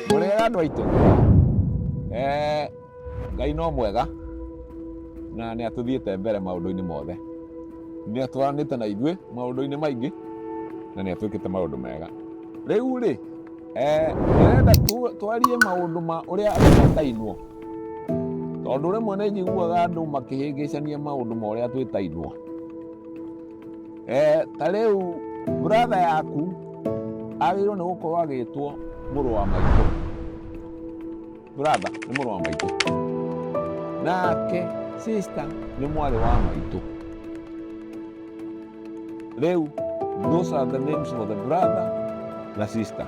mũrĩega andũ aitũ Eh, ngai no mwega na nĩ atũthiĩte mbere maũndũ-inĩ mothe nĩ atwaranĩte na ithuĩ maũndũ-inĩ maingĩ na nĩ atwĩkĩte maũndũ mega rĩu rĩ eh, ndĩrenda tu- twarie maũndũ ma ũrĩa andũ matainwo Tondũ rĩmwe nĩ njiguaga andũ makĩhĩngĩcania maũndũ ma ũrĩa twĩtainwo. Eh, ta rĩu brother yaku agĩrĩirwo nĩ gũkorwo agĩtwo mũrũ wa maitũ. Brother nĩ mũrũ wa maitũ. Nake sister nĩ mwarĩ wa maitũ. Rĩu those are the names for the brother na sister.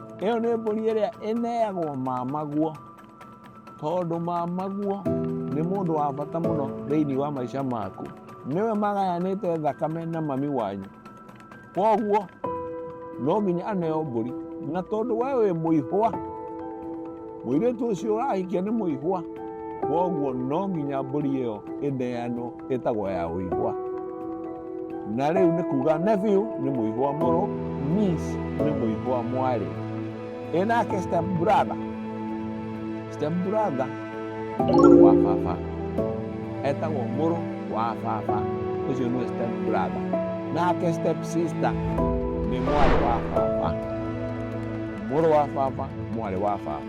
Ĩyo nĩ mbũri ĩrĩa ĩneagwo mamaguo, tondũ mamaguo nĩ mũndũ wa bata mũno thĩinĩ wa maica maku. Nĩwe magayanĩte thakame na mami wanyu. Kwoguo no nginya aneo mbũri. Na tondũ we wĩ mũihwa, mũirĩtu ũcio ũrahikia nĩ mũihwa, kwoguo no nginya mbũri ĩyo ĩneanwo. ĩtagwo ya ũigwa na rĩu nĩ kuga nephew nĩ mũigwa mũrũ niece nĩ mũigwa mwarĩ ĩnake step brother step brother nĩ mũrũ wa baba etagwo mũrũ wa baba ũcio nĩwe step brother nake step sister nĩ mwarĩ wa baba mũrũ wa baba mwarĩ wa baba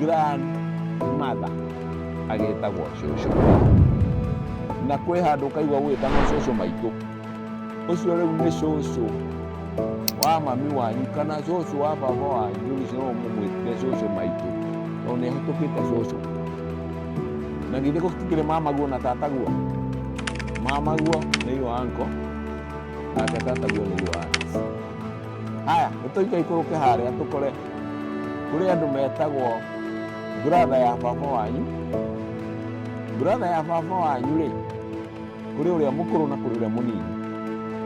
grand mother agĩtagwo cũcũ na kwĩ handũ kaigua gũgĩtagwo cũcũ maitũ ũcio rĩu nĩ cũcũ wa mami wanyu kana cũcũ wa baba wanyu rĩu ũcio no mũmwĩtire cũcũ maitũ tondũ nĩ ahĩtũkĩte cũcũ na githĩ gũtikĩrĩ mamaguo na tataguo mamaguo nĩ iwa anko nake tataguo nĩ iwa anti haya nĩ tũikai kũrũke harĩa tũkore kũrĩ andũ metagwo brother ya baba wanyu brother ya baba wanyu rĩ kũrĩ ũrĩa mũkũrũ na kũrĩ ũrĩa mũnini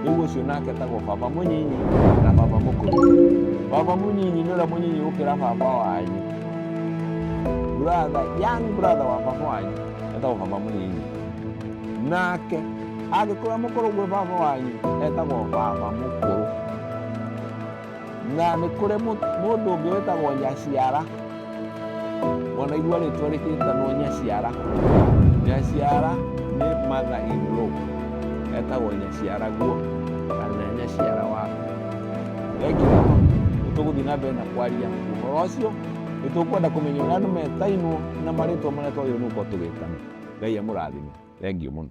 rĩu ũcio nake etagwo baba mũnyinyi na baba mũkũrũ baba mũnyinyi nĩ ũrĩa mũnyinyi gũkĩra baba wanyu brother young brother wa baba wanyu etagwo baba mũnyinyi nake angĩkorwo mũkũrũ gwĩ baba wanyu etagwo baba mũkũrũ na nĩ kũrĩ mũndũ ũngĩ wĩtagwo nyaciara ona igua rĩtwa rĩkĩtanwo nyaciara nyaciara nĩ mother in law etagwo nyaciara guo kana nyaciara wa ekira nĩ tũgũthiĩ na mbere na kwaria ũhoro ũcio nĩ tũkwenda kũmenya ũrĩa andũ metainwo na marĩtwa marĩa twagĩrĩirwo nĩ gũkorwo tũgĩtana ngai amũrathime thengiũ mũno